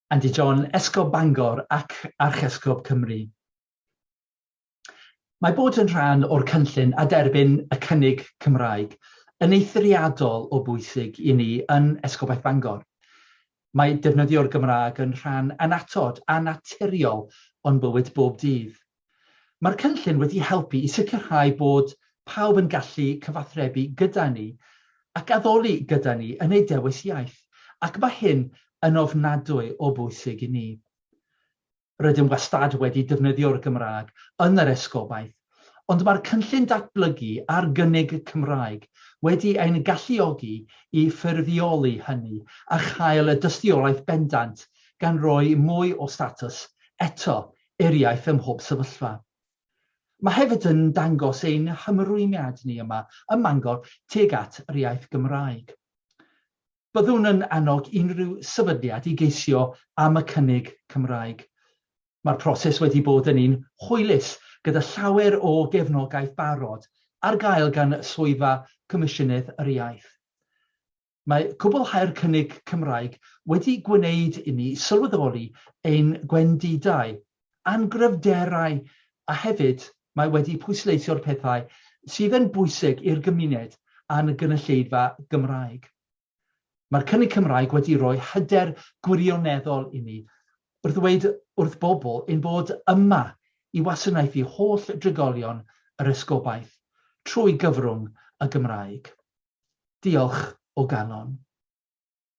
Andy John, Esgob Bangor ac Archesgob Cymru. Mae bod yn rhan o'r cynllun a derbyn y cynnig Cymraeg yn eithriadol o bwysig i ni yn Esgobaeth Bangor. Mae defnyddio'r Gymraeg yn rhan annatod a naturiol o'n bywyd bob dydd. Mae'r cynllun wedi helpu i sicrhau bod pawb yn gallu cyfathrebu gyda ni ac addoli gyda ni yn eu dewis iaith, ac mae hyn yn ofnadwy o bwysig i ni. Rydym wastad wedi defnyddio'r Gymraeg yn yr esgobaeth, ond mae'r cynllun datblygu ar gynnig y Cymraeg wedi ein galluogi i ffurfioli hynny a chael y dystiolaeth bendant gan roi mwy o statws eto i'r iaith ym mhob sefyllfa. Mae hefyd yn dangos ein hymrwymiad ni yma ym Mangor tuag at yr iaith Gymraeg. Byddwn yn annog unrhyw sefydliad i geisio am y cynnig Cymraeg. Mae'r proses wedi bod yn un hwylus, gyda llawer o gefnogaeth barod ar gael gan Swyddfa Comisiynydd yr Iaith. Mae cwblhau'r cynnig Cymraeg wedi gwneud inni sylweddoli ein gwendidau a'n gryfderau a hefyd mae wedi pwysleisio'r pethau sydd yn bwysig i'r gymuned a'n gynulleidfa Gymraeg. Mae'r cynnig Cymraeg wedi rhoi hyder gwirioneddol inni wrth ddweud wrth bobl ein bod yma i wasanaethu holl drigolion yr Esgobaeth trwy gyfrwng y Gymraeg. Diolch o galon.